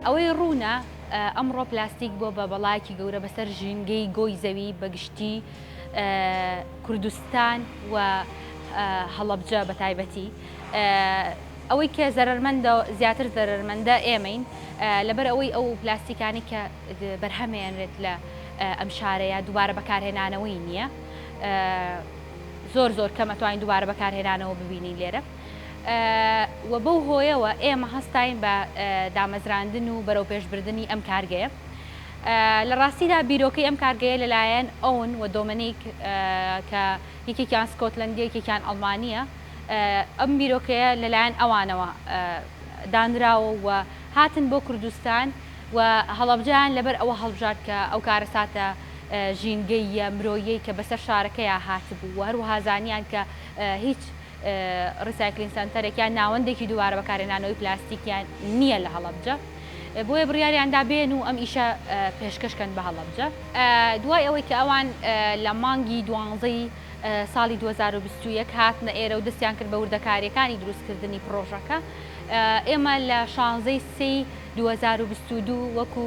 ئەوەی ڕوونە ئەمڕۆ پلاستیک بۆ بە بەڵایەکی گەورە بەسەر ژینگەی گۆی زەوی بەگشتی کوردستان و هەڵەبجە بە تایبەتی ئەوەی کە زەرمەندە زیاتر زەرمەندە ئێمەین لەبەر ئەوەی ئەو پلاستیکانی کە بەرهەمێنرێت لە ئەم شارەیە دووبارە بەکارهێنانەوەی نییە زۆر زۆر کەمەتوانین دووبارە بەکارهێنانەوە ببینین لێرە و بەو هۆیەوە ئێمە هەستاین بە دامەزراندن و بەرەوپێشبردنی ئەم کارگەیە. لە ڕاستیدا بیرۆکەی ئەم کارگەیە لەلایەن ئۆون و دۆمنیک کە یەکێکیان سکۆتلەندییە یەکێکیان ئەڵمانییە، ئەم بیرۆکەیە لەلایەن ئەوانەوە دانراوە و هاتن بۆ کوردستان و هەڵەبجەیان لەبەر ئەوە هەڵبژارد کە ئەو کارەساتە ژینگەییە مرۆییەی کە بەسەر شارەکەیا هاتبوو و هەروەها زانیان کە هیچ ڕیسایکلین سەنتەرێک یان ناوەندێکی دووبارە بەکارهێنانەوەی پلاستیکیان نییە لە هەڵەبجە، بۆیە بڕیاریاندا بێن و ئەم ئیشە پێشکەش کەن بە هەڵەبجە. دوای ئەوەی کە ئەوان لە مانگی دوانزە ی ساڵی دوو هەزار و بیست و یەک هاتنە ئێرە و دەستیان کرد بە وردەکارییەکانی دروستکردنی پڕۆژەکە، ئێمە لە شانزە ی سێی دوو هەزار و بیست و دوو وەکو